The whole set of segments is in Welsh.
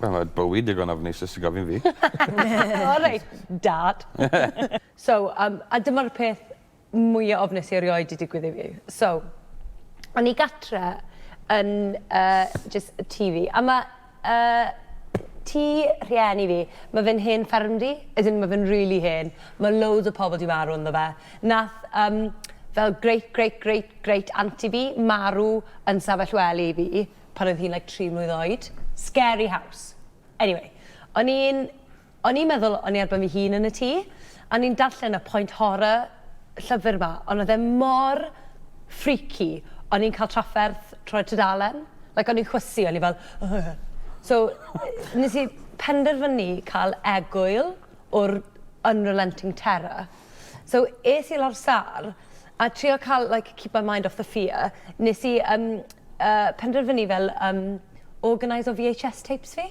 Wel mae bywyd digon ofnus os ti gofyn fi. O reit. Dad. So yym a dyma'r peth mwya ofnus i erioed 'di digwydd i fi. So o'n i gatre yn yy jys tŷ fi a ma' Y tŷ rhieni fi. Mae fe'n hen ffermdy, as in mae fe'n rili hen. Mae loads o pobl 'di marw ynddo fe. Nath yym fel great great great great aunty fi marw yn stafell wely fi pan oedd hi'n like tri mlwydd oed. Scary house. Anyway, o'n i'n O'n i'n meddwl o'n i ar ben fy hun yn y tŷ, a o'n i'n darllen y point horror llyfr 'ma, ond oedd e mor freaky, o'n i'n cael trafferth trwy'r tudalen, like o'n i'n chwysu, o'n i fel ugh! So, nes i penderfynu cael egwyl o'r unrelenting terror. So, es i lawr sâl, a trio cael like keep my mind off the fear, nes i yym yy penderfynu fel yym organise o VHS tapes fi.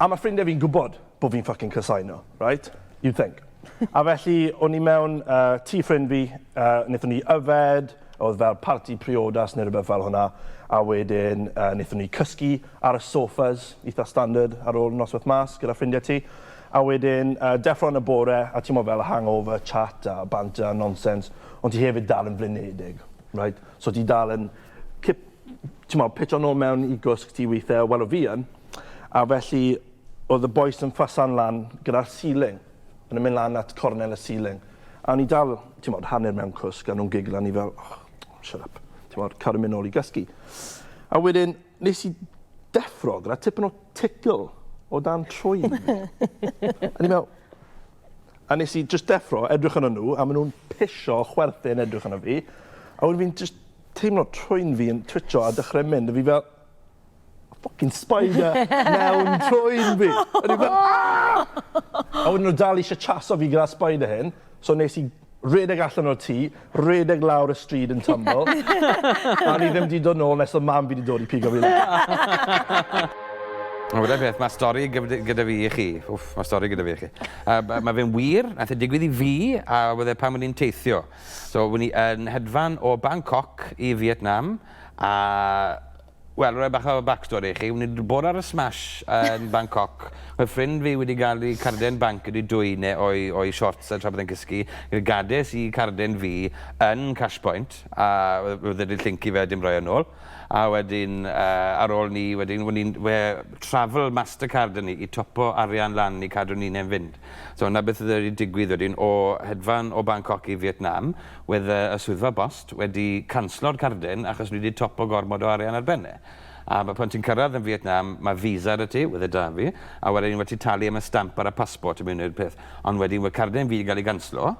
A ma' ffrindie fi'n gwbod bo fi'n ffycin casáu nhw, reit? You'd think. A felly o'n i mewn yy tŷ ffrind fi, yy nethon ni yfed, o'dd fel parti priodas ne' rwbeth fel hwnna, a wedyn yy nethon ni cysgu ar y sofas, itha standard ar ôl nosweth mas gyda ffrindie ti. A wedyn yy deffro yn y bore a t'mo' fel y hangover, chat a banter a nonsens, ond ti hefyd dal yn flinedig, reit? So ti dal yn cip t'mod, pitio nôl mewn i gwsg ti weithie, wel o' fi yn, a felly o'dd y bois yn ffasan lan gyda'r ceiling, o'n nw'n myn' lan at cornel y ceiling, a o'n i dal, t'mod, hanner mewn cwsg a nw'n giglo a o'n i fel oh, shut up, t'mod, cadw myn' nôl i gysgu. A wedyn nes i deffro gyda tipyn o tickle o dan trwyn fi. a o'n i fel, a nes i jyst deffro, edrych arnyn nw, a ma' nw'n pisio chwerthin edrych arno fi, a wedyn fi'n jyst teimlo trwyn fi yn twitcho a dechre mynd a fi fel ffycin spider mewn trwyn fi. O'n i fel aah! A wedyn o' dal isie chaso fi gyda spider hyn so nes i redeg allan o'r tŷ redeg lawr y stryd yn twmble a o'n i ddim 'di dod nôl nes odd mam fi 'di dod i pigo fi lan. A weda peth ma' stori gyfd- gyda fi i chi wff ma' stori gyda fi i chi. Yy b- ma' fe'n wir nath e digwydd i fi a wedd e pan o'n i'n teithio. So wn i yn hedfan o Bangkok i Fietnam a wel rhoi bach o backstory i chi, wn i wedi bod ar y smash yn Bangkok, mae ffrind fi wedi cael ei cardiau yn banc wedi dwyn e o'i o'i shorts tra bod e'n cysgu, gades i carden fi yn cash point a oedd wedi llyncu fe a dim rhoi e nôl a wedyn ar ôl ni wedyn wn i'n travel mastercard 'da ni i topo arian lan i cadw ni'n hen fynd. So 'na beth oedd wedi digwydd wedyn, o hedfan o Bangkok i Fietnam, wedd y y swyddfa bost wedi canslo'r cardyn achos wedi topo gormod o arian ar ben e. A b- pan ti'n cyrradd yn Fietnam, ma' visa 'da ti, wedd e 'da fi, a wedyn ma' ti talu am y stamp ar y passport i mewn i'r peth. Ond wedyn wedd cardyn fi 'di ga'l ei ganslo,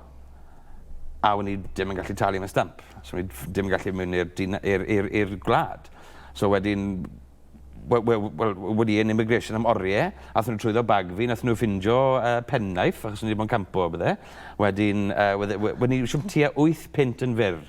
a wen i dim yn gallu talu am y stamp. So o'n i ff- dim yn gallu mynd i'r dina- i'r i'r i'r gwlad. So wedyn wel, wel, wel, wedi yn immigration am oriau, athyn nhw trwyddo bag fi, nathyn nhw ffindio uh, penknife, achos nhw wedi bod yn campo o bydde. Wedyn, uh, wedi, wedi, siwm tua 8 pint yn fyr,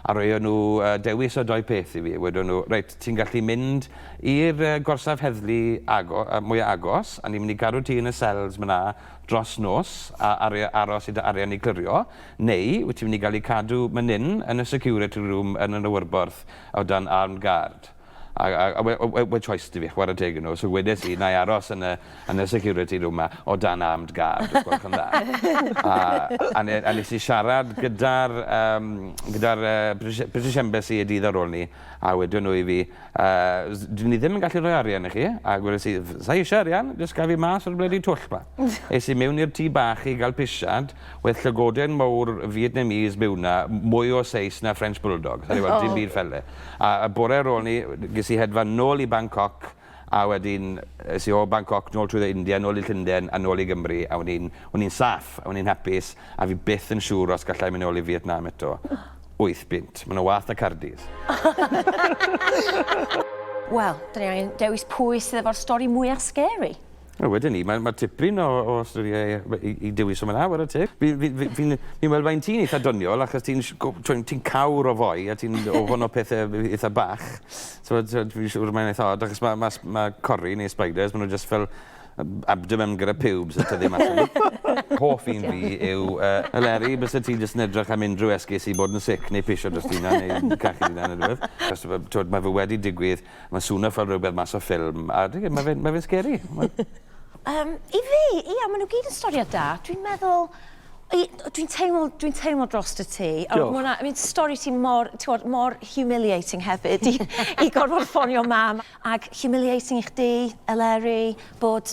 a roi nhw uh, dewis o doi peth i fi. Wedi nhw, reit, ti'n gallu mynd i'r uh, gorsaf heddlu ago, uh, mwyaf agos, a ni'n mynd i gadw ti yn y cells myna dros nos, a ar, aros i dy arian i clirio, neu wyt ti'n mynd i gael ei cadw mynin yn y security room yn y nywyrborth o dan armed guard. A a a we- we- we- choice 'da fi chware teg i nw so wedes i 'nai aros yn y yn y security room 'ma o dan armed guard os gwelwch yn dda. A a ne- a nes i siarad gyda'r yym gyda'r yy British British Embassy y dydd ar ôl 'ny a wedon nw i fi yy s- 'dyn ni ddim yn gallu rhoi arian i chi a gweles i f- sai isie arian jyst gad fi mas o'r blydi twll 'ma. Es i mewn i'r tŷ bach i ga'l pisiad wedd llygoden mowr Vietnamese mewn 'na m- mwy o seis na French bulldog. O'n i fel dim byd ffel 'e. A y bore ar ôl 'ny, ges i hedfan nôl i Bangkok, a wedyn es i o Bangkok nôl trwyddo India, nôl i Llundain, a nôl i Gymru, a o'n i'n, o'n i'n saff, a o'n i'n hapus, a fi byth yn siŵr os galla i mynd nôl i Fietnam eto. Wyth bunt. Ma' 'na wath na Caerdydd. Wel, 'dan ni angen dewis pwy sydd efo'r stori mwya' scary. A wedyn 'ny ma' ma' tipyn o o storie yy we- i i dywys yma 'na ware teg. Fi fi fi fi'n fi'n me'wl faint ti'n eitha doniol achos ti'n sh- go- t'wo' ti'n cawr o foi a ti'n ofon o pethe b- yy itha bach. T'mod t'mod fi'n siŵr mae'n eitha od achos ma' ma' sb- ma' cori neu spiders ma' n'w jyst fel yym abdomen gyda pubes yn tyfu mas o n'w. Hoff un fi yw yy y leri byse ti jyst yn edrych am unryw esgus i bod yn sic neu pisio drosti ynna neu cachu dy unan ne' rwbeth. Achos t'mod t'mod ma' fe wedi digwydd Ma'n swno fel rwbeth mas o ffilm a dwi gwe- ma' fe'n ma' fe'n scary. Mae... Yym i fi ia ma' n'w gyd yn storiad da dwi'n meddwl i- yy dwi'n teimlo dwi'n teimlo drost y ti a ma' wnna I mean stori ti mor t'wod mor humiliating hefyd i i gorfod ffonio mam ag humiliating i chdi Eleri bod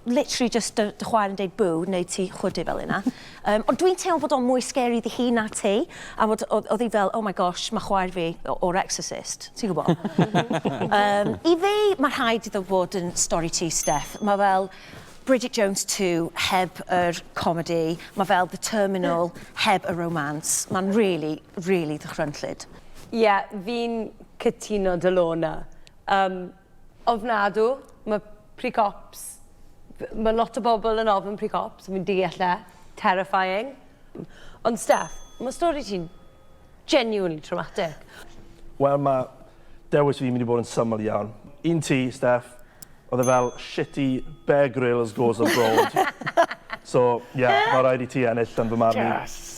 literally jyst dy, dy chwaer yn deud bw, neu ti chwydu fel yna. um, ond dwi'n teimlo bod o'n mwy scary iddi hi na ti, a bod oedd hi fel, oh my gosh, mae chwaer fi o'r Exorcist, ti'n gwybod? um, I fi, mae rhaid iddo fod yn stori ti, Steph. Mae fel, Bridget Jones 2 heb yr comedy, mae fel The Terminal heb y romance. Mae'n really, really ddychrynllyd. Ie, yeah, fi'n cytuno dy lona. Um, Ofnadw, ma precops, ma lot o bobl yn ofn precops, fi'n deall e, terrifying. Ond Steff, ma stori ti'n genuinely traumatic. Wel ma dewis fi mynd i bod yn syml iawn. Un ti, Steff, oedd e fel shitty Bear Grylls goes abroad. So yeah, ma raid i ti ennill yn fy marn i.